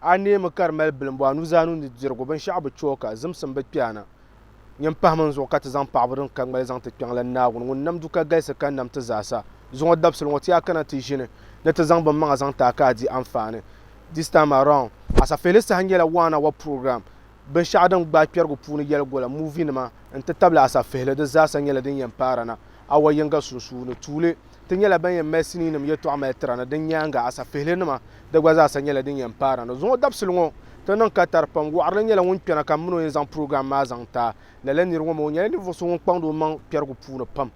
A neemi ka di mali bilimbɔ a nuzaa ni nudirigu, binshɛɣu bi chɛ o ka, zimsim bi kpɛ a na. Nyin pahimi n zuɣu ka ti zaŋ paɣibu din ka ŋmali zaŋ ti kpiɔŋ la Naawuni ŋun nam du ka galisi ka nam ti zaa sa. Zuŋɔ dabisili ŋɔ ti yaa kana ti ʒini ni ti zaŋ bɛn maŋa zaŋ ti a ka a di anfaani this time around. Asafeli saha nyɛla Waana wa program. binshɛɣu din gbaai kpɛrigu puuni yɛli gola, muuvinima, n-ti tabili asafihili, di zaasa nyɛla din yɛn paara na awa yiŋga sunsuuni. Tuuli, Ti nyɛla ban yɛn mali siniinim yɛtɔɣa mali tira ni. Di nyaaŋa, asafihilinima, di gba zaasa nyɛla din yɛn paara na. Zuŋɔ dabisili ŋɔ, ti niŋ katari pam. Wɔɣirili nyɛla ŋun kpɛna ka m min o yɛn zaŋ purogiram maa zaŋ ti a. Lala nir ŋɔ mi, o nyɛla ninvuɣ so ŋun kpaŋdi o maŋ kpɛrigu puuni pam.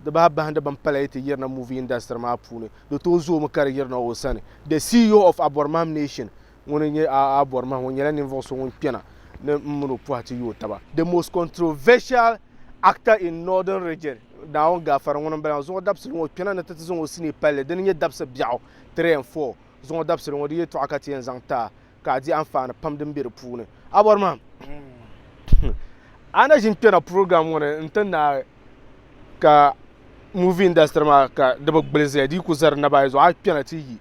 Di bahi bahindi bini pala yi ti yirina muuvi indasitiri maa puuni, di tooi zoomi ka di yirina o sani. The CEO of Abɔrimahim Nation. ŋuni n-nyɛ a a bɔri mahim o nyɛla ninvuɣ so ŋun kpɛna ni m min o pɔhi ti yooi taba. The most controversial actor in Northern Region, Naawuni Gaafari ŋuni m-bala maa. Zuɣu dabisili ŋɔ, o kpɛna ni ti ti zaŋ o sinii pali li. Dini n-nyɛ dabisi biɛɣu, three and four. Zuɣu dabisili ŋɔ, di yɛltɔɣa ka ti yɛn zaŋ ti a ka a di anfaani pam din be di puuni. A bɔri mahim? A na ʒin kpɛna program ŋɔ ni n-ti naai ka movie industry maa ka di bi gbili zaya di yi ku za di naba ayi zuɣu a kpɛna ti yi.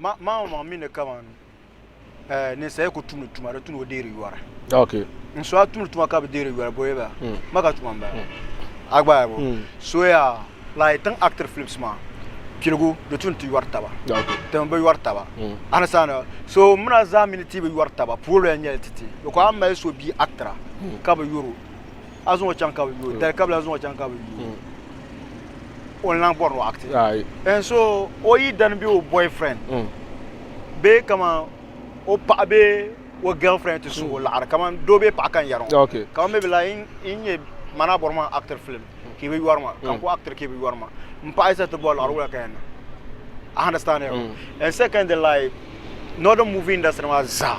Maŋ o maŋ mi ni kaman eh, ninsali ku tumdi tuma di tuni o deeri yɔri. Okay. N so a tumdi tuma ka bi deeri yɔri bɔye ba. Mm. Ma ka tuma n bala. Mm. A gbaai bo. Mm. Soya la yi tiŋ actor flips maa piligu di tuni ti yɔri taba. Okay. Ti mi bi yɔri taba. Mm. A ni saana so mina zaa mi ni ti bi yɔri taba puolo ya nyɛli ti ti. Biko a mali so bia actor mm. ka bi yɔro a zuŋɔ chaŋ ka bi yo, dali kabila zuŋɔ chaŋ ka bi yo, o ni lahi bɔri ni o acti. And so o yidana bee o boyfriend bee kaman o paɣa bee o girlfriend ti su o laɣiri kaman doo bee paɣa ka n yɛri ŋɔ kaman maybe la yi nyɛ man a bɔrimi a actiri film ka i bi yɔri ma ka n ku actiri ka i bi yɔri ma m paɣa yi sa ti bɔri laɣiri wula ka yɛn niŋ a understand ya and secondly like northern movie industry maa zaa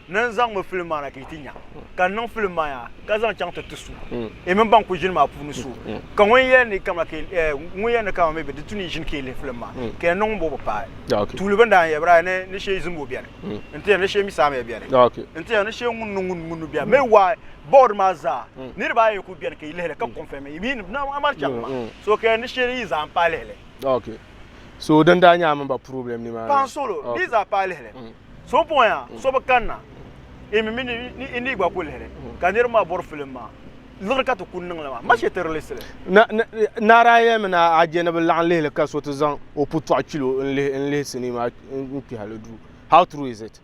ni n zaŋmi filim maa na ka yi ti nya, ka n niŋ filim maa ya ka zaŋ chaŋ ti ti so, yi mini ban kuli ʒini maa puuni so. Ka ŋun yɛn ni kamina ka ŋun yɛn ni kamina mi bi di tu ni yi ʒini ka yi lihi filim maa, ka yɛn niŋ ŋunbɔŋɔ bi paai. Tuuli bini daa n-yɛli ba daa ni ni shee zimbu beni, n-ti yɛli ni shee mi saamiya beni, n-ti yɛli ni shee ŋuni ni ŋuni ŋuni beni. Mee why board maa zaa niriba ayi n-kuli beni ka yi lihi li ka confirm yi mi ni bi daa mali chaŋ maa. So ka yɛli ni shee yi zaa m-paai lihi li. so din daa nyaa mini ba problem ni maa paɣa solo okay. di zaa paai lihili mm. so n puɣi yaa mm. so bi kanna imi mi ni ni gba ku lihili mm. ka niriba maa bori filim maa liɣiri ka ti ku niŋli maa ma shɛ ti release li naara yɛli mi na aje ni bi laɣim lihili ka so ti zaŋ o putɔɣu kilo n lihi n lihi sinii maa n kpihali duu how true is it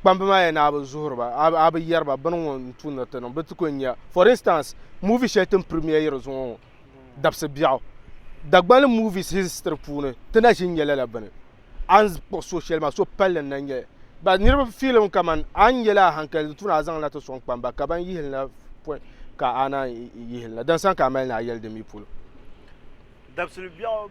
kpamba maa yɛn na a bi zuhiri ba a bi yɛri ba bini ŋɔ n tumdi ti niŋ bi ti kuli nya for instance movie shɛli tin premier yiri zuŋɔ ŋɔ dabisi biɛɣu Dagbani movies history puuni ti na ʒi nyɛla la bini a ni kpuɣi so shɛli maa so palli n na nyɛli ba niriba filim kaman a ni nyɛla a hankali di tuuni a zaŋla ti sɔŋ kpamba ka ban yihili na pɔi ka a naan yihili na din sani ka a mali ni a yɛli di mi polo dabisili biɛɣu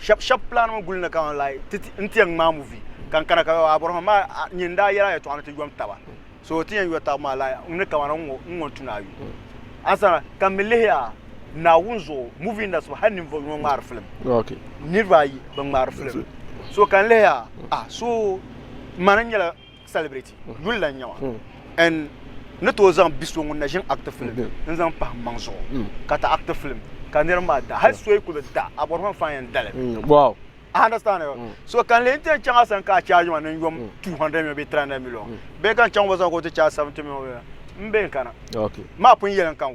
shɛb shɛb pilanimi guli ni ka ŋɔ like ti n ti yɛn ŋmaa muvi ka n kana ka abɔrɔfɔni maa a nyin n daa yɛla yɛtɔɣa ni ti yom taba so ti yɛn yo tabu maa like n ni kamana n ŋɔ n tu ni a yu a sana ka mi lihi a Naawuni zuɣu muvi indasitiri hali ninvuɣ yino ŋmaari filim niriba ayi bi ŋmaari filim so ka n lihi a a so mani n nyɛla Celebrity yuli la n nyɛ ma and n ni tooi zaŋ bi so ŋun na ʒini actor film n zaŋ pahi m maŋ zuɣu ka ti actor film ka niriba maa da hali so yi kuli da a bɔri ma fan yɛn dali wow I understand you. Mm. So can lean ten changa san ka charge man in yom 200 million be 300 million. Be kan chang waza ko te charge 70 million. Mbe kana. Okay. Ma pun yelen kan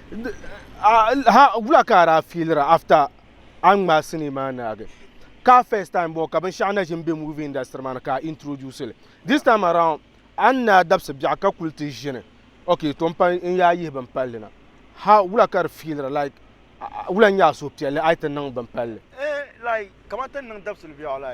ha wula ka a daa fiilira after a ni ŋmaai sinii maa naagi ka a first time bɔɔ ka binshɛɣu na ʒini be movie industry maa ni ka a introduce li this time around a ni naai dabisi biɛɣu ka kuli ti ʒini okay to m-pa n-yaa yihi bin palli na ha wula ka di fiilira like wula n-nyɛ a suhupiɛlli a yi ti niŋ bin palli. Eh like kamani ti ni niŋ dabisili biɛɣu la.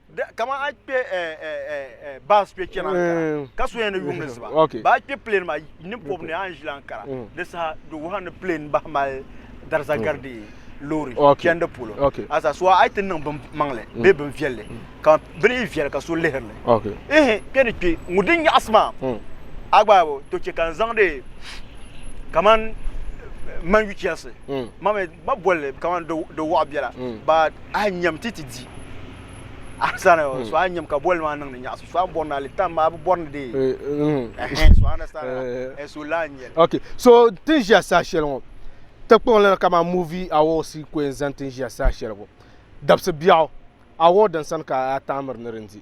kama a kpɛ bas kpɛ chɛna ankara ka so yɛn ni yuŋ ni ziba ba kpɛ plane ma ni pɔbi ni an ʒila ankara di saha di wuha ni plane bahi mali dariza gari di loori chɛndi polo asa so a ti niŋ bin maŋli bee bin viɛlli ka bini yi viɛli ka so lihiri li ihi kpɛ ni kpɛ ŋun di nyaɣasi maa a gba to chɛ ka n zaŋdi kaman man yu chɛsi ba bolli kamani di wɔɣ biɛla ba a nyam ti ti di a sani hmm. so a nyam ka bolli maa niŋdi nyaɣasi so a bɔri na tam maa bi bɔri ni dee hmm. eh, so a na sani eh. eh, so la n yɛli ok so tin ʒiya saa shɛli ŋɔ ti kpuɣi lana kamani movie awards ko yɛn zaŋ tin ʒiya saa shɛli ŋɔ dabisi biɛɣu award din sani ka a taamiri ni di di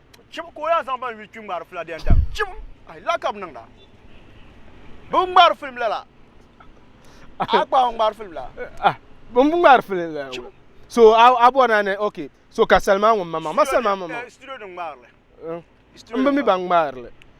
chim ka o yaa zaŋ ban yuli kpi ŋmaari fila dɛndam chim ayi la ka bi niŋda bi ŋmaari filim lala a kpaɣu ŋmaari filim la ah bin bi ŋmaari filim la Chim. so a a bɔ na ni ok so ka salima ŋun ma ma ma salima ma ma Eh, studio ni ŋmaarili n bi mi ban ŋmaarili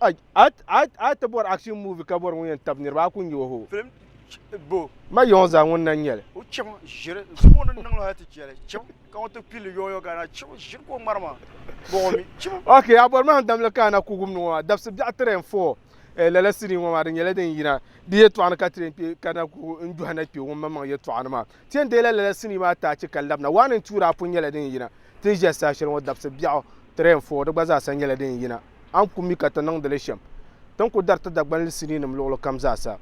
a ti bɔri action movie ka bɔri ŋun yɛn tabi niriba a ku nyɛ o ho ma yɔŋ zaa ŋun na nyɛli o chim ʒiri zuɣu ni niŋ hali ti chɛli chim ka ŋun ti pili yɔŋ yɔŋ gana chim ʒiri ko ŋmari maa bɔŋɔ mi chim ok a bɔri maa damli ka ana kugum ni ŋɔ dabisi biɛɣu tiri and four eh, lala sini ŋɔ maa di nyɛla din yina di yɛtɔɣa ni ka tiri kpe ka na ku n dɔhi na kpe ŋun maŋmaŋ yɛtɔɣa ni maa Ti yɛn deela lala sinii maa taachi ka labina. Waa ni tuuri apun nyɛla din yina. Ti ni ʒiya saha shɛli ŋɔ dabisi biɛɣu, three and four, di gba zaasa nyɛla din yina. A ni ku mi ka ti niŋdi li shɛm, ti ni ku dariti Dagbanli siniinim luɣili kam zaasa.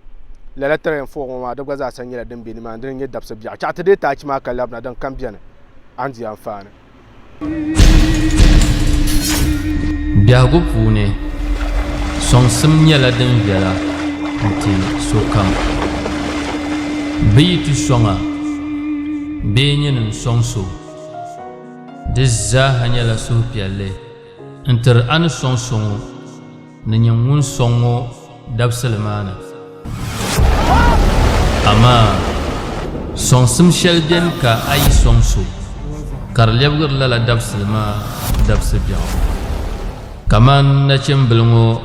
Lala three and four ŋɔ maa, di gba zaasa nyɛla din be nimaani, di ni nyɛ dabisi biɛɣu. Chɛɣu ti deei taachi maa ka labina, din kam beni, a ni di anfaani. Biɛhigu puuni, sɔŋsim nyɛla din viɛla n-ti sokam. Bɛ yi ti sɔŋ a bee nyini n-sɔŋ so, di zaa ha nyɛla suhupiɛlli. N tiri a ni sɔŋ so ŋɔ ni nyin ŋun sɔŋ ŋɔ dabisili maa ni. Amaa sɔŋsim shɛli beni ka a yi sɔŋ so, ka di lɛbigiri lala dabisili maa dabisi biɛɣu. Kamani nachimbil ŋɔ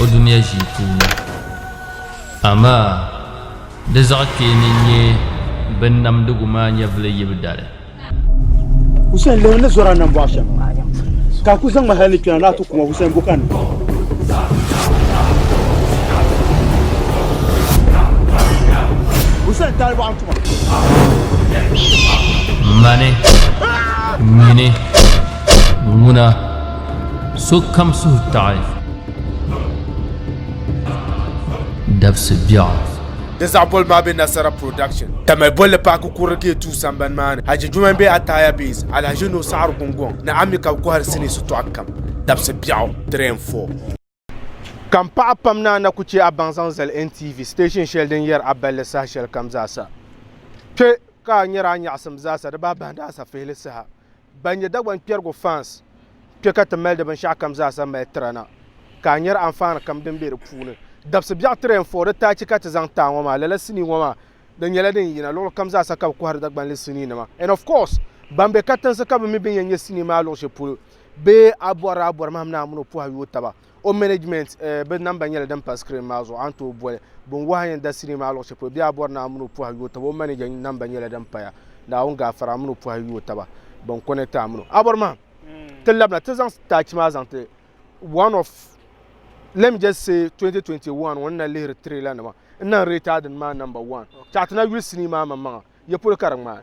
o dunia ʒii puuni. Amaa, di zaɣ kpee ni nyɛ binnamdigu maa nyɛvili yibu dali. Hussein lihi ni zɔra nambɔɣu shɛm ka a ku zaŋ ma hali ni kpɛna ni a ti ku ma Hussein Bukani. Mani, nyini, ŋuna. sokam suhu taɣi dabisi biɛɣu. Di zaɣ bolibu maa be Nasara Production. Tamale bolli paaki kurili Gate Two sambani maa ni. Hajji Juman be Ataya Base, Alhaji Nuhu Saɣiri Gungɔŋ ni Ammi ka bɛ kɔhiri sinii shitɔɣu kam. Dabisi biɛɣu, Three and Four. Ka m paɣa pam ni a na ku chɛ a baŋ zaŋ zali NTV station shɛli din yɛri a balli saha shɛli kam zaasa. Kpe ka a nyari a nyaɣisim zaasa di baa bahindi a safihili saha. Ban nyɛ Dagbaŋ kpɛrigu fans kpe ka ti mali di binshɛɣu kam zaasa mali tira na. Ka a nyari anfaani kam din be di puuni. Dabsi biɛɣu tiri N-Four di taachi ka ti zaŋ ti a ŋɔ maa. Lala sinii ŋɔ maa di nyɛla din yina luɣili kam zaasa ka bɛ kɔhiri Dagbanli sinii nima. And of course ban be katinsi ka bɛ mi bɛn yɛn nyɛ sinii maa luɣishɛli polo. bee a bɔrila a bɔri mahim ni a mini o pɔha yooi taba o management eh, bɛ namba nyɛla din pa screen maa zuɣu a ni tooi boli bin wahi yɛn da sinii maa luɣu shɛli polo bee a bɔri ni a mini o pɔha yooi taba o manager namba nyɛla din paya naawuni gaafara a mini o pɔha yooi taba bin connect a mini o a bɔri mahim mm. ti labina ti zaŋ staachi maa zaŋ ti one of let me just say 2021 ŋɔ na lihiri trailer nima n na rate adin maa number one chaɣa ti na yuli sinii maa maŋmaŋa ye polo ka di ŋmaai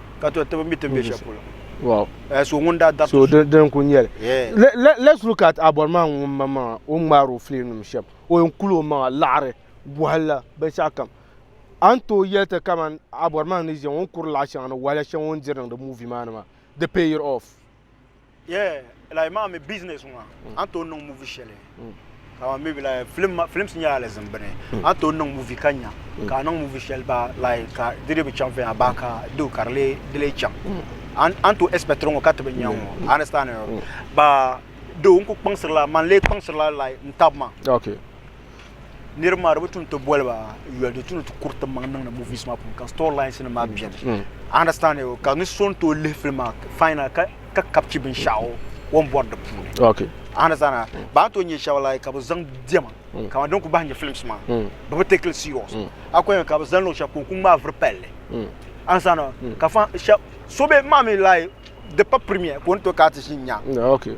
ka to tibi mi ti be shɛli polo wow uh, so ŋun daa dabiti so din ku nyɛli yeah. Let, let, let's look at abɔri maa ŋun ma maŋa o ŋmaari o filim nim shɛm o yɛn kuli o maŋa laɣari bɔhili la binshɛɣu kam a ni tooi yɛli ti kaman abɔri maa ni ʒiya ŋun kuri laɣa shɛŋa ni wahala shɛŋa o ni diri niŋdi movie maa ni maa di pay it off Yeah, like maa mi business ŋɔ mm. an tooi niŋ movie shɛli mm. ka maa maybe like film films nyɛla alizim bini mm. an tooi niŋ movie ka nya ka a niŋ movie shɛli ba like ka di dee bi chaŋ viɛnyɛla ba ka do ka di lee di lee chaŋ an tooi expect ŋɔ ka ti bi nya ŋɔ understand ba do n ku kpaŋsirila man lee kpaŋsirila like n tab ma okay niriba maa di bi tum ti boli ba yoli di tum ni ti kuri ti maŋ niŋdi movies maa puuni ka story lines nim maa biɛni mm. I understand you ka ni so n tooi lihi film maa final ka ka kapchi binshaɣu o ni bɔri di puuni okay I understand that mm. ba ni tooi nyɛ shɛba like ka bi zaŋ diɛma mm. ka din ku bahi nyɛ films maa bi bi take it serious a ku ka bi zaŋ luɣu shɛli ka o ku ŋmaa vuri palli I understand that ka fa shɛba so bɛ maa mi like di pa premier ka o ni tooi ka ti ʒi nya okay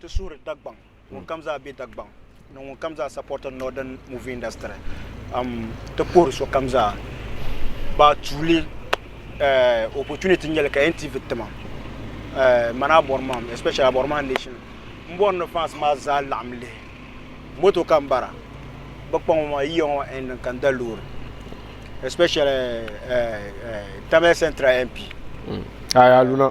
Ti suhiri Dagbaŋ ŋun kam zaa be Dagbaŋ ni ŋun kam zaa supporti Northern movie industry. Um, ti puhiri so kam zaa ba tuuli eh, opportunity nyɛli ka NTV tima eh, mani a bɔri mam, especially a bɔri maa nation. M bɔri ni fans maa zaa laɣim lihi moto ka m bara, bɛ kpa ŋɔ maa, yiya ŋɔ maa ending ka n da loori, especially eh, eh, Tamale Central MP. Aya Luna.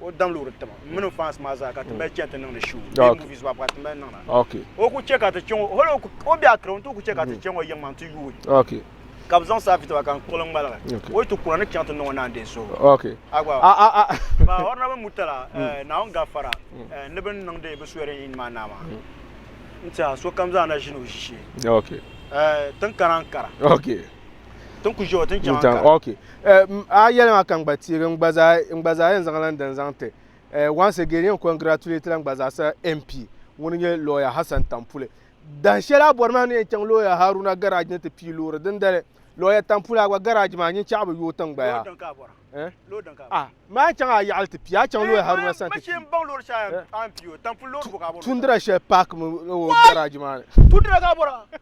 o dam loori tiŋa n mini fans maa zaa ka ti mali chɛni ti niŋdi show bee Okay. movies maa ka ti mali niŋda Okay. o ku chɛ ka ti chɛ ŋɔ hali o ku- o bɛ akira n ti o ku chɛ ka ti chɛ ŋɔ yiŋ maa n ti yuui Okay. ka bi zaŋ saa fi tiba ka n kpuɣili n ŋmaligi Okay. o yi ti kuna ni chaŋ ti niŋ o naan dee so Okay. a gba Ah, ah, ah. ba honorable mutala eh, naawuni gafara eh, ni bin niŋdi bi swearing in maa naa maa n tiɛha sokam zaa na ʒini o ʒishee Okay. Eh, tin kana n kara Okay. Tin ku ʒiɛo tin chɛŋ ka. Ok. Eh, a yɛli maa ka n gba teegi n gba zaa n gba zaa yɛn zaŋ lan din zaŋ ti. Eh, once again yɛn congratulate la n gba zaa sa MP ŋuni nyɛ lawyer Hassan Tampuli. Dahin shɛli a bɔri maa ni yɛn chaŋ lawyer Haruna garage ni ti pii loori dindali lawyer Tampuli a gba garage maa nyin chaɣu bi yooi tiŋ gba yaa. Eh? Ah, maa chaŋ a yaɣali ti pii a chaŋ lawyer Haruna sani ti pii. Tundira shɛli park mi o garage maa ni. Tundira ka a bɔra.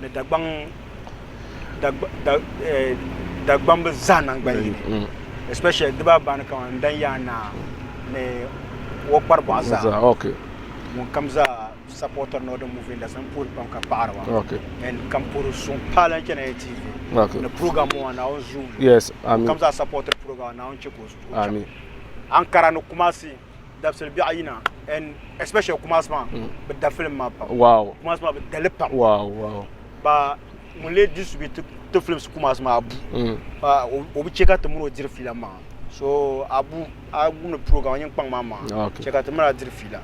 ni Dagbaŋ dagbamba zaa naŋgban yini, mm. especially di baa baani kaman n-dan yaa naa ni o kpari bɔɣa zaa okay. ŋun kam zaa supporter nɔ din movie industry n puhiri pam ka paɣiri ba okay. and kam puhiri suŋ paali n chana TV okay. ni program ŋɔ naa on zoom yes, amin. kam zaa supporter program naa on chɛ ka o zuɣu cham Ankara ni Kumasi dabisili biɛɣu yina and especially Kumasi maa mm. bi da film maa pam wow Kumasi maa bi dali pam wow wow ba ŋun lee di subi ti ti films Kumasi maa abu mm. ba o bi chɛ ka ti mini o diri fiila maa so abu a wumdi program a nyin kpaŋ maa maa chɛ ka ti mini a diri fiila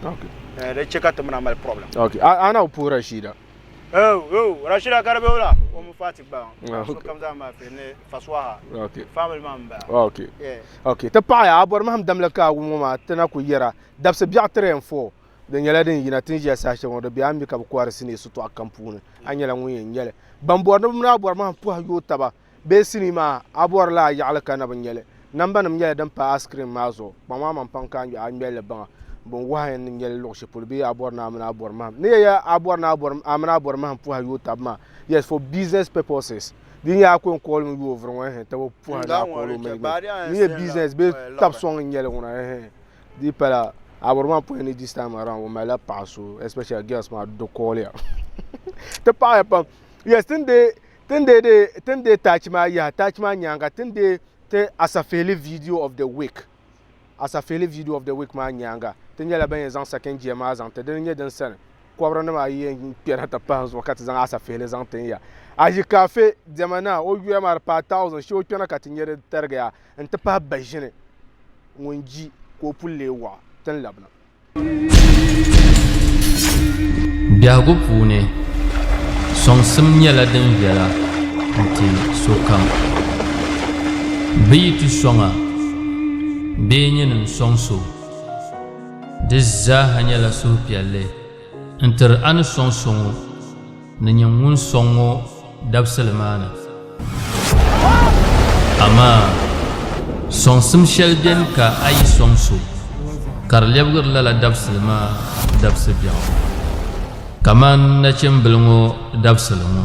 di chɛ ka ti mini a mali problem okay ana o puhira shida Oh, oh, Rashida ka di be wula? O mi Fati gba. Ah, so kam zaa maa fe ni Faswaha. Okay. Family maa m ba. Okay. Yeah. Okay, ti paɣa ya a bori mahim damli ka wum ŋɔ maa ti na ku yɛra dabsi biɛɣu 3 and 4 di nyɛla din yina tin ʒiya saha shɛŋa di be a mi ka bi kohiri sinii sitɔɣu kam puuni a nyɛla ŋun yɛn nyɛli ban bori ni bi mi daa bori mahim puhi yooi taba Bee sinii maa a bɔri la a yaɣili ka na bi ŋmɛli? Nambanim nyɛla din pa askirim maa zuɣu. Kpaŋmi a maŋ pam ka a ŋmɛ a ni ŋmɛli li baŋa. Bin wahi ya ni n ŋmɛli luɣ shɛli polo bee a bɔri ni a mini a bɔri mahim. Ni ya yɛl a bɔri ni a bɔri a mini a bɔri mahim puhi a yooi tab maa, yes, for business purposes. Di nyɛla a ko n kɔɣili mi yooi vuri ŋɔ ehe tab o puhi a ni a kɔɣili o mali mi. Ni ya business bee tab sɔŋ n nyɛli ŋuna ehe. Di pala a bɔri maa puhi ni this time around o mali la paɣa so especially girls maa di kɔɣili ya. Ti paɣi ya pam. Yes, tini dee. Tin dee dee tin dee taachi maa yaha taachi maa nyaanga tin dee ti Asafihili video of the week Asafihili video of the week maa nyaanga ti nyɛla ban yɛn zaŋ second gear maa zaŋ ti dini nyɛ din sani kɔbiri nima ayi yɛn kpɛna ti pahi zuɣu ka ti zaŋ Asafihili zaŋ tin ya ayi kaafe diɛma na o yuya maa di paai thousand shee o kpɛna ka ti nyɛ di tarigiya n ti pahi baʒini ŋun ji ka o puli lee waɣa tin labina Biɛhigu puuni, sɔŋsim nyɛla din viɛla nti sokam. Bɛ yi ti sɔŋ a bee nyin n-sɔŋ so, di zaaha nyɛla suhupiɛlli n-tiri a ni sɔŋ so ŋɔ. Ni nyɛ ŋun sɔŋ ŋɔ dabisili maa ni. Amaa sɔŋsim shɛli beni ka a yi sɔŋ so, ka di lɛbigiri lala dabisili maa dabisi biɛɣu, kamani nachimbila ŋɔ dabisili ŋɔ.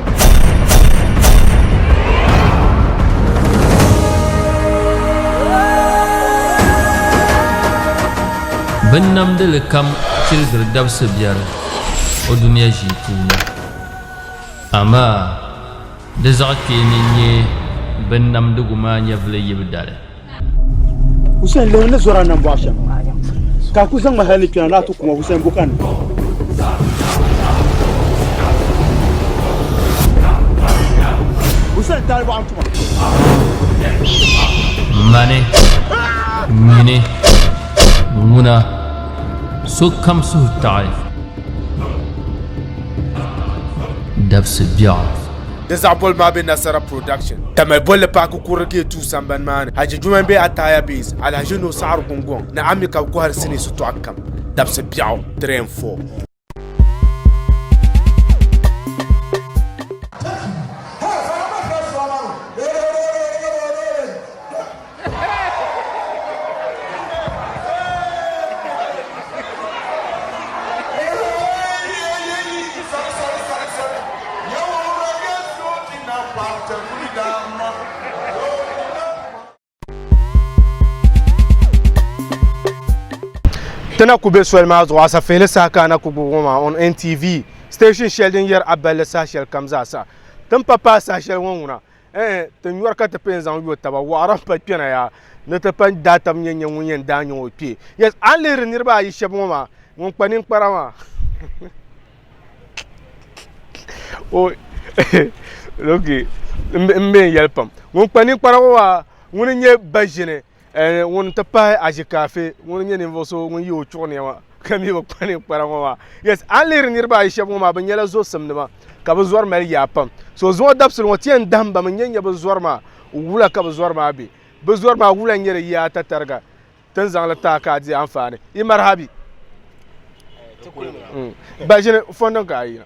Bin namdili kam tiligiri dabisi biɛri o dunia ʒii puuni amaa di zaɣ kpeeni n-nyɛ bin namdigu maa nyɛvili yibu dali. Hussein lew ni zora nan bɔɣa shɛm ka a ku zaŋ ma hali ni kpɛna ni a ti kuma Hussein buka ni Hussein taali bɔɣa tuma mani nyini ŋuna sokam suhu taɣi dabisi biɛɣu Di zaɣ boli maa be Nasara Production. Tamale bolli paaki kurili Gate 2 sambani maa ni. Haji Juma m-be Ataaya Base, Alhaji Nuhu Saɣiri Gungɔŋ ni Ami ka bɛ kɔhiri sinii sitɔɣu kam, dabisi biɛɣu, 3 and 4. Tana ku be soli maa zuɣu asafeeli sahakana ku gbubi ŋɔ maa on NTV station shɛli din yɛri a balli saha shɛli kam zaasa. Tin pa paai saha shɛli ŋɔ ŋuna Ɛɛh! Ti nyɔri ka ti pee n-zaŋ yo taba, wɔɣira m-pali kpɛna yaa, ni ti pali daatam n-yɛn nya ŋun yɛn daa nyaŋ o kpee. Yes, a ni lihiri niriba ayi shɛba ŋɔ maa, ŋun kpa ninkpara maa o okay m-be n-yɛli pam. Ŋun kpa ninkpara ŋɔ maa, ŋuni n-nyɛ ba ʒini Ɛɛ, ŋuni n-ti pahi aʒikaafi ŋuni n-nyɛ ninvuɣ so ŋun ye o chuɣu nɛma ka mi bi kpa ninkpara ŋɔ maa? Yes, a ni lihiri niriba ayi shɛb ŋɔ maa, bɛ nyɛla zɔsimnima, ka bɛ zɔri mali yaa pam. So zuŋɔ dabisili ŋɔ, ti yɛn dahim ba mi n-nyɛ n-nyɛ bɛ zɔri maa wula ka bɛ zɔri maa be. Bɛ zɔri maa wula n-nyɛ di yaa tatariga ti ni zaŋ li taai ka a di anfaani. Yi maraha bɛ? Ba ʒini fɔndini ka a yina.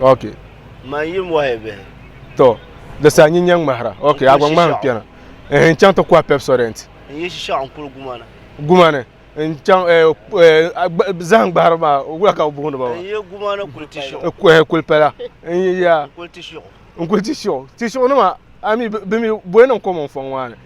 ok to di sa nyi nyɛ ŋmahira ok a gba ŋmahim kpɛna ehe n chaŋ ti kɔhi pepsodent gumani n chaŋ zahim gbahiri maa wula ka bi booni ba maa kulipala n kuli ti shiɣu ti shiɣu nima ami bi mi bɔyi niŋ kom n fɔŋ maa ni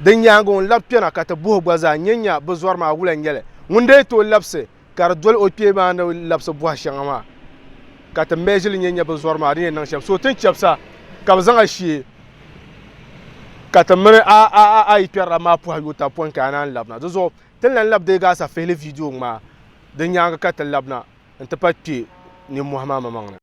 Di nyaaŋa ŋun labi kpɛna ka ti buhi gba zaa nyɛ nya bi zɔri maa wula n-nyɛ li. Ŋun daa tooi labisi ka di doli o kpee maa ni labisi buhi shɛŋa maa ka ti measure li nyɛ nya bi zɔri maa di ni yɛn niŋ shɛm. So ti ni chabisa ka bi zaŋ a shee ka ti mini a a a a yi kpɛrila maa puhi yo taba pɔin ka a naan labina. Di zuɣu ti ni lan labi deei gaasa fihili video ŋmaa di nyaaŋa ka ti labina n-ti pahi kpee ninmɔhi maa maŋmaŋ ni.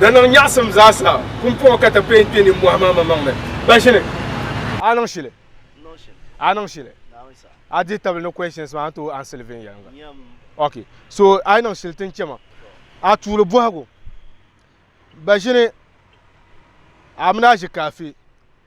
Da niŋ nyaɣisim zaasa pumpɔŋɔ ka ti peen kpe nimmɔhi maa maŋmaŋ ni. Ba ʒini. A niŋ shili. A niŋ shili. A dihi tabili ni questions maa a ni tooi answer li viɛnyɛliŋga. Ok. So a yi niŋ shili ti ni chɛ ma. A tuuli bɔhigu. Ba ʒini. A mini a ʒi kaafi.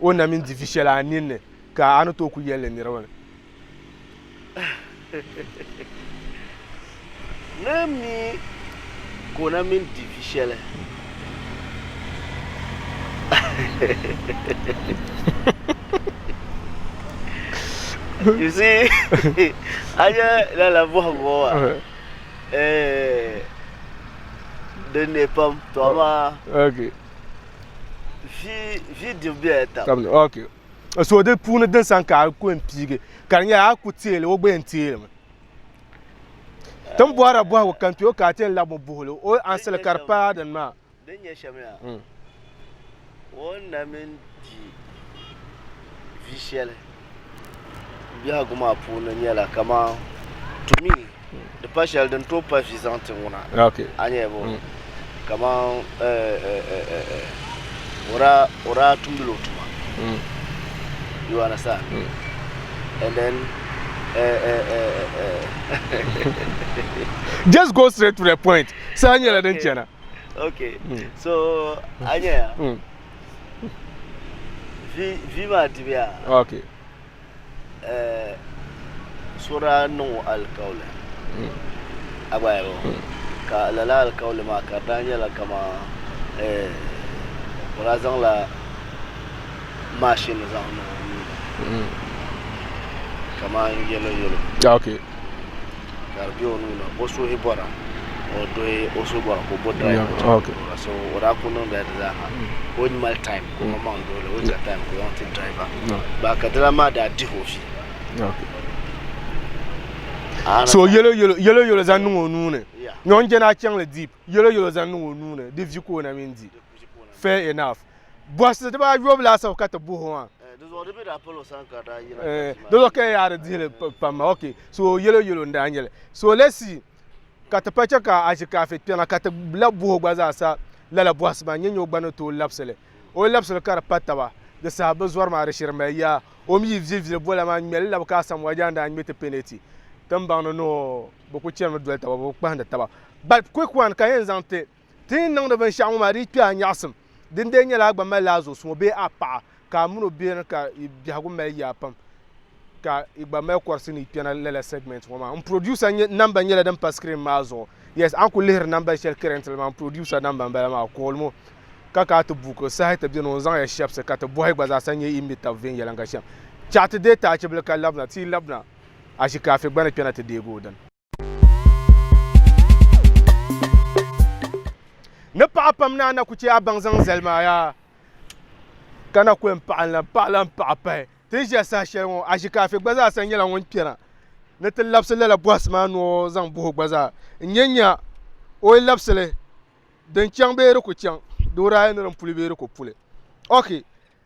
o na mini divi shɛli a ninni, ka a ni tooi ku yɛli li niriba ni. Naa mi ka o na mini divi shɛli. You see, a nya lala bɔhigu ŋɔ wa? Eh, din ne pam, to amaa. Okay. so di puuni din san ka a ku n piigi ka di nyɛla a ku teeli o gba yɛn teelimi tin bɔhira bɔhigu kan kpɛ o ka a ti yɛn labi o buhili o ansili ka di paa din maa din nyɛ shɛm yaa o na mini di vi shɛli Biɛhigu maa puuni nyɛla kamani to me di pa shɛli din tooi pali vi zaŋ ti ŋuna a ni yɛlibu mm. kamani o daa tumdila o tuma mm. you understand mm. and then just go straight to the point saa nyɛla din chɛna okay so a nyɛya vi maa dibiya ok so daa niŋ o alikauli a gba yɛbo ka lala alikauli maa ka di daa nyɛla kama o daa zaŋla maashin zaŋ niŋ o nuu ni kamani yɛlo yɛlo ok ka di bɛ o nuu ni o suhi bɔra ka o dɔhi o suhi bɔra ka o bo drive ka o chaŋ ti duɣira so o daa kuli niŋdila di zaa ha ka o ni mali time ka o mali maŋ duɣi li o chaŋ time ka o zaŋ ti driver ba ka dila maa daa dihi o fi so yɛlo yɛlo yɛlo yɛlo zaŋ niŋ o nuu ni Yeah. nyɔŋ jɛna a chaŋli deep yɛlo yɛlo zaŋ niŋ o nuu ni di vi ka o na mini di fair enough Bɔhisi dibaa yobu laasabu ka ti buhi o maa. Eh, dizuɣu di mi daa palo san ka daa yina. Eh, dizuɣu ka yaari dihili pam ma. Ok, so yelo yelo n daa nyeli. So lesi ka ti pa che ka a zi kaafe kpɛŋa ka ti la buhi o gba zaa sa lala bɔhisi maa nyɛ nyɛ o gba ni tooi labisili. O yi labisili ka di pa taba di saha bi zɔri maa di shiri mali yaa. O mi yi vili vili bola maa ŋmeli labi ka Asamoah Gyan daa ŋme ti peneti tinbaŋ ni ni o bi ku chani mi doli taba bi kpahindi taba. But quick one ka yɛn zaŋ ti. Ti ni niŋdi binshɛɣu ŋɔ maa di yi kpe a nyaɣisim, din dee nyɛla a gba malila a zuɣusuŋɔ bee a paɣa ka a min o bɛ ni ka yi biɛhigu mali yaa pam ka yi gba mali kɔrisi ni yi kpɛna lala segment ŋɔ maa. N producer number nyɛla din pa screen maa zuɣu. Yes, a ni kuli lihiri number shɛli currently maa n producer number m-bala maa. Call mo ka ka ti buku saha ti beni o ni zaŋ ya shɛbisi ka ti bɔhi gba zaa sa n-nyɛ yi ni mi tab viɛnyɛliŋga shɛm. Chaɣi ti deei taachibili ka labina ti yi labina ashikaafi gba ni kpɛna ti deegi o dini. ni paɣa pam ni a na ku chɛ a baŋ zaŋ zali maa yaa ka na ku yɛn paɣa n-lan paɣa lan paɣa pahi ti ni ʒiya saha shɛli ŋɔ Ashikaafi gba zaa sa nyɛla ŋun kpɛna ni ti labisi lala bɔhisi maa ni o zaŋ bahi o gba zaa n-nya nya o yi labisi li din chaŋ bee di ku chaŋ di wuhi daa yɛn ni din puli bee di ku puli ok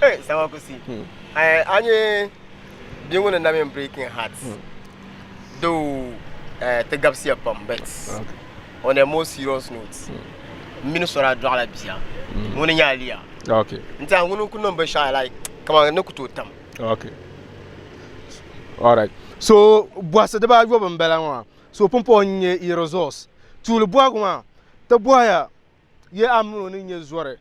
Hey, sama ku si. Hmm. Eh, a nye bia ŋuni na mini breaking heart. Hmm. Though eh, ti gabisiya pam but on a more serious note hmm. mini sɔra dɔɣila bia ŋuni hmm. nye Aliya. Okay. N tiɛha ŋuni ku niŋ binshɛɣu like kamani ni ku tooi tam. Okay. All right. So bɔhisi dibaa yɔbu m-bala ŋɔ so pumpɔŋ n-nye i resource tuuli bɔhigu maa ti bɔhiya Yɛ a mini o ni nyɛ zɔri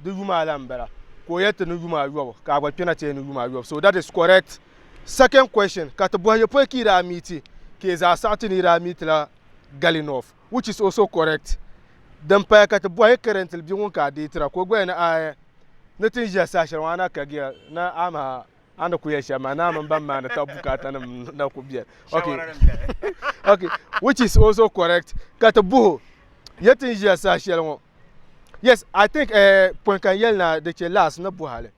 di yuma la n bala ka o yɛli ti ni yuma ayɔbu ka a gba kpɛna ti yɛn ni yuma ayɔbu so that is correct second question ka ti bɔhi yɛ pɔi ka yi daa miiti ka yɛ zaa saɣiti ni yi daa miitila gali north which is also correct din paya ka ti bɔhi currently bia ŋun ka a deetira ka o gba yɛn ni a ni ti ni ʒiya saha shɛli ŋɔ a na kagiya ni a maha a ni ku yɛli shɛm maa naa mini ban maani ka bukaata nim na ku biɛni okay okay which is also correct ka ti buhu yɛ tin ʒiya saha shɛli ŋɔ yes i think eh, pɔin kan yɛli na di chɛ laas ni buhali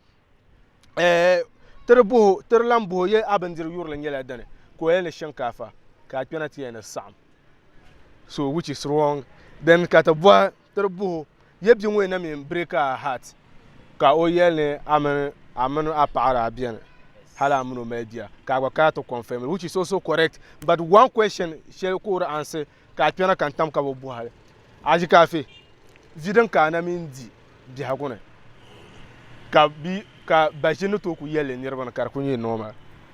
eh, tiri buhu tiri lan buhu yɛ a bindiri yurili nyɛla dini ka o yɛli ni shinkaafa ka a kpɛna ti yɛli ni saɣam so which is wrong then ka ti bɔhi tiri buhi o, Yɛ bia ŋɔ yɛn na mi n-break a heart ka o yɛli ni a mini a mini a paɣa daa beni hali a mini o mali bia ka a gba kana ti confirm li which is also correct but one question shɛli ka o di answer ka a kpɛna ka n-tam ka bi buhi hali a ʒi ka afi vi din ka a na mi n-di biɛhigu ni ka bi ka ba ʒini ni tooi ku yɛli li niriba ni ka di ku nyɛ normal.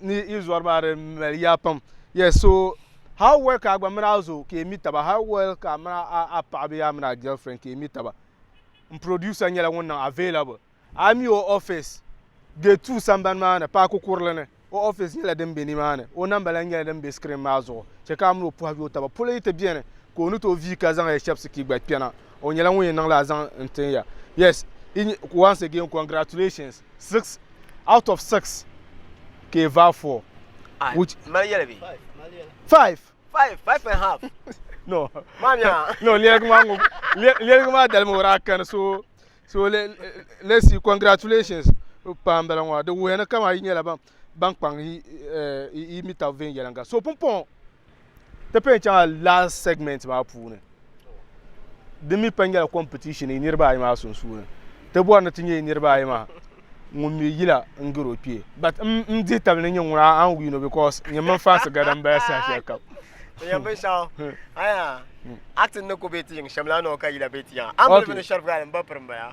ni yi zɔri maa di mali yaa pam yes so how well ka a gba mini a zo ka yi mi taba how well ka a mini a paɣa bee a mini a girlfriend ka yi mi taba n producer nyɛla ŋun niŋ available a yi mi o office gate two sambani maa ni paaki kurili ni o office nyɛla din be ni maa ni o namba lahi nyɛla din be screen maa zuɣu chɛ ka a mini o pɔhigi o taba polo yi ti beni ka o ni tooi vii ka zaŋ ya shɛbisi ka yi gba kpɛna o nyɛla ŋun yɛn niŋ la a zaŋ n tin ya yes once again congratulations 6 out of 6 ka i vaa 4 ah, which mali yɛli bi 5 5 5 and half no maa mi ah. no lɛrigi maa ŋɔ lɛrigi maa dalimi wara kani so so le le si congratulations pam bala ŋɔ di wuhɛ ni kama yi nyɛla ban ban kpaŋ yi eh, yi mita viɛnyɛlinga so pumpɔŋɔ ti pɛn chaŋa last segment maa puuni di mi pa nyɛla competition yi niriba ayi maa sunsuuni ti bɔri ni ti nyɛ yi niriba ayi maa ŋun mi yila n garo kpee but n n dihi tabi ni nyɛ ŋuna an win o because nyɛ mini fansi gada n bala saha shɛli kam yɛn bin shɛŋa aya acting ni ku bɛ ti yiŋ shɛm la noo ka yila bɛ ti yaŋa an bilifu ni shɛrif gali n ba piri n baya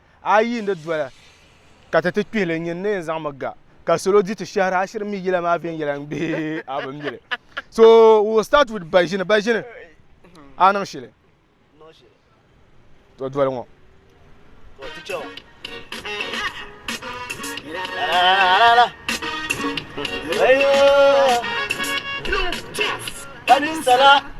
a yi yiini di doli ka ti ti kpihili n nyini ni yɛn zaŋmi ga ka salo di ti shɛhira a shiri mi yila maa viɛnyɛla n bihi a bi mili so we will start with baʒini baʒini a niŋ shili to doli ŋɔ Ayo, Ayo, Ayo, Ayo,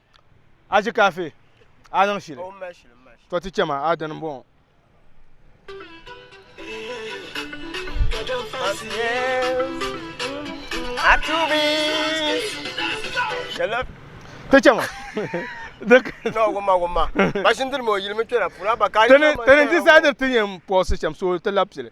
A ʒi kaafi, a niŋ shili. To ti chɛ ma, a dini m-bɔŋɔ. Ti chɛ ma. Tini n-ti sadir ti yɛn pɔhisi shɛm, so ti labi pili.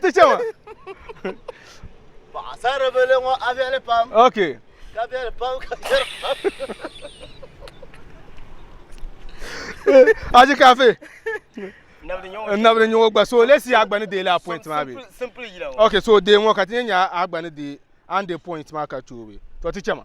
ti chɛma paɣasaribili ŋɔ a viɛli pam ok ka viɛli pam ka viɛli pam aji kafe nabili nyɛ ŋɔ gba so lesi a gba ni deei la point maa bɛ ok so dee ŋɔ ka ti nyɛ nya a gba ni deei an de point maa ka choobi to ti chɛma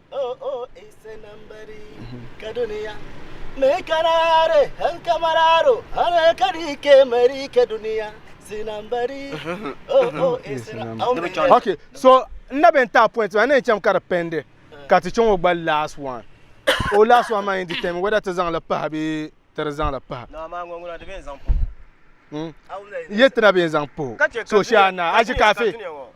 Okay, so n na bɛ n taai point maa ni yɛn chaŋ ka di pɛndi ka ti chaŋ o gba last one o last one maa yɛn determine whether ti zaŋli pahi bee ti di zaŋli pahi n yɛn tina bɛ yɛn zaŋ pahi o so shee a naai a ʒi kaafi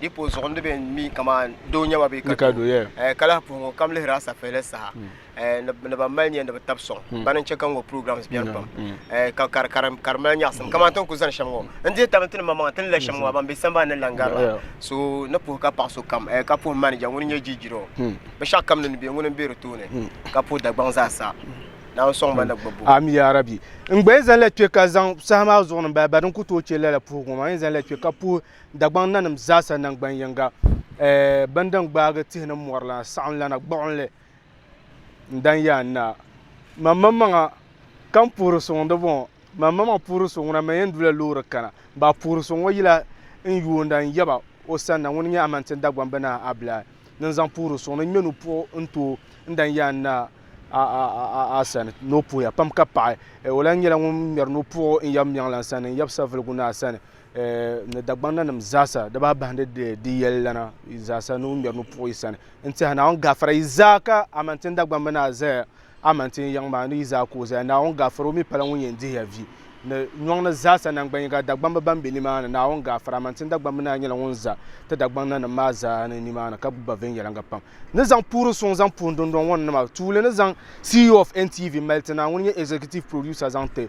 Di po zuɣu ni bɛ mi kaman doo nyɛ ba bee ka doo, eh, ka lahi puhi ŋun kam lihiri a safeeli saha, eh, ni, ni ban mali nya ni bɛ tab sɔŋ. Bana n-chɛ ka ŋɔ programs beni pam, eh, ka, ka, ka, ka di mali nyaɣisim. Kaman ti ni ku zani shɛm ŋɔ, n-dihi tab nti ni maŋmaŋa ti ni la shɛm ŋɔ a ban be sambani ni lan gari ba. So ni puhi ka paɣ sokam, eh, ka puhi manager ŋun n-nyɛ Jijiro, binshɛɣu kam ni ni be ŋuni m-be di tooni, ka puhi Dagbaŋ zaa sa, Naawuni sɔŋ ba ni bɛ gbubi o. Ami yaa Rabbi! N gba yɛn zaŋ la kpe ka zaŋ saha maa zuɣu ni m-bala, ba din ku tooi chɛ lala puhigu ŋɔ maa, n yɛn zaŋ la kpe ka puhi Dagbaŋ nanim zaasa naŋgban yiŋga, eh, bɛn din gbaagi tihi ni mɔri la, saɣimlana gbuɣinli n-dan ya n naa. Maŋmaŋmaŋa ka n puhiri suŋ di bɔŋɔ, maŋmaŋmaŋ puhiri suŋ ŋuna mɛ yɛn du la loori kana, baa puhiri suŋ ŋɔ yila n yuunda n-yaba o sanna, ŋuni nyɛ Amantin Dagbaŋ binahi Abilahi ni n zaŋ puhiri suŋ ni ŋmɛ nu puɣu n ti o n dan ya n naa a sani ni o puhiya pam ka paɣi eh, o lahi nyɛla ŋun ŋmɛri nu puɣu n yab Miɛŋlan sani n yab Saviligu naa sani ni Dagbaŋ nanim zaasa di baa bahindi di yɛli lana zaasa ni o ŋmɛri ni puɣi sani n tiɛha naawuni gaafara yi zaa ka amantin Dagbaŋ mi naa zaya amantin yiŋ maa ni yi zaa ka o zaya naawuni gaafara o mi pala ŋun yɛn dihiya vi ni nyɔŋ ni zaasa nangban yiŋa Dagbamba ban be nimaani naawuni gaafara amantin Dagbaŋ mi naa nyɛla ŋun za ti Dagbaŋ nanim maa zaa ni nimaani ka gbubi ba viɛnyɛliŋga pam ni zaŋ puhiri suŋ zaŋ puhi dundɔŋ ŋɔ ni nima tuuli ni zaŋ CEO of NTV mali ti naa ŋun nyɛ executive producer zaŋ ti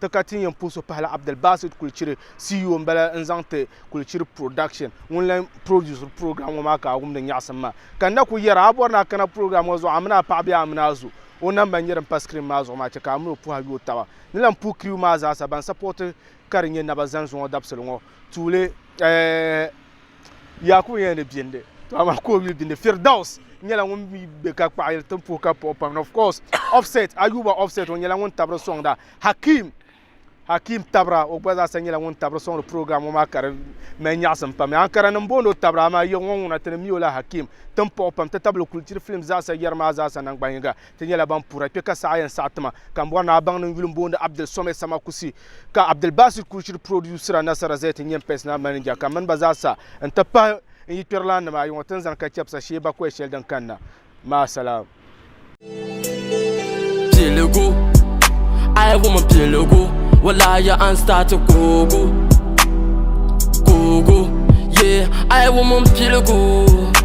Ti ka ti ni yɛn puhi so pahila Abdulbasit Kulichiri, CEO m-bala n-zaŋ ti Kulichiri Production ŋun lan produsiri program ŋɔ maa ka a wumdi nyaɣisim maa. Ka n na kul yɛra, a ni bɔri ni a kana program ŋɔ zuɣu a mini a paɣa bee a mini a zo o namba n-nyɛ din pa screen maa zuɣu maa, chɛ ka a mini o puhi a yooi taba. Ni lan puhi crew maa zaasa ban supporti ka di nyɛ Naba Zanzu ŋɔ dabisili ŋɔ tuuli. Eeh! Yaakubu nyɛla ni bindi, to amaa ka o mi bindi. Firdaus nyɛla ŋun mi be ka kpaɣiri tin puhi ka puhi pam. And of course, Offset, Ayuba Offset, o nyɛla ŋun tabiri sɔŋda. Hakim, Hakim Tabra, o gba zaasa nyɛla ŋun tabiri sɔŋdi program ŋɔ maa ka di mali nyaɣisim pam. Ankara nim booni o Tabra amaa yiɣi ŋɔ ŋuna ti ni mi o la Hakim tin puhi pam ti tabili Kulchiri Films zaasa yɛri maa zaasa naŋgban yiŋga. Ti nyɛla ban puhira kpe ka saha yɛn saɣi tima ka m bɔri ni a baŋ nin yuli m-boondi Abdul Someh Sama Kusi ka Abdul Basit Kulshiri purodusira Nasara Zet n-nyɛ m pɛsinal manija ka mini ba zaa sa n-ti pahi n yikpɛrilan nima ayi ŋɔ ti ni zani ka chɛbisa shee bakɔi shɛli din kanna. Maasalaam. Piligu, I wum piligu, walahi an start kuugu, kuugu, yeah, I wum piligu.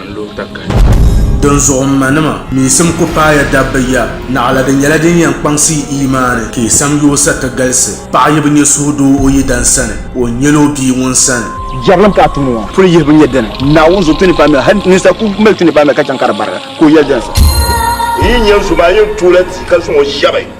n-lo takahi. Dinzuɣu m manima, miisim ku paaya dabba ya, naɣila di nyɛla din yɛn kpaŋsi yi iimaani ka yi sam yoosa ti galisi. Paɣa yi bi nyɛ suhudoo o yidana sani, o ni nyɛl o bia ŋun sani. Jɛrilim ka a tum ŋɔ puli yihibu nyɛ dini? Naawuni zuɣu ti ni paai mi la, hal ninsal ku mali ti ni paai mi la ka chaŋ ka di barigi, ka o yɛli dini sa? N yi nya zuba, a yɛn toola ti ka zaŋ o shɛbi.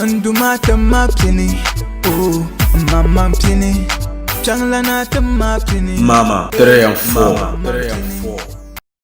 N du maa tim ma pini oh n mamma n pini kpɛŋla naa tim ma pini. Mama 3 and 4.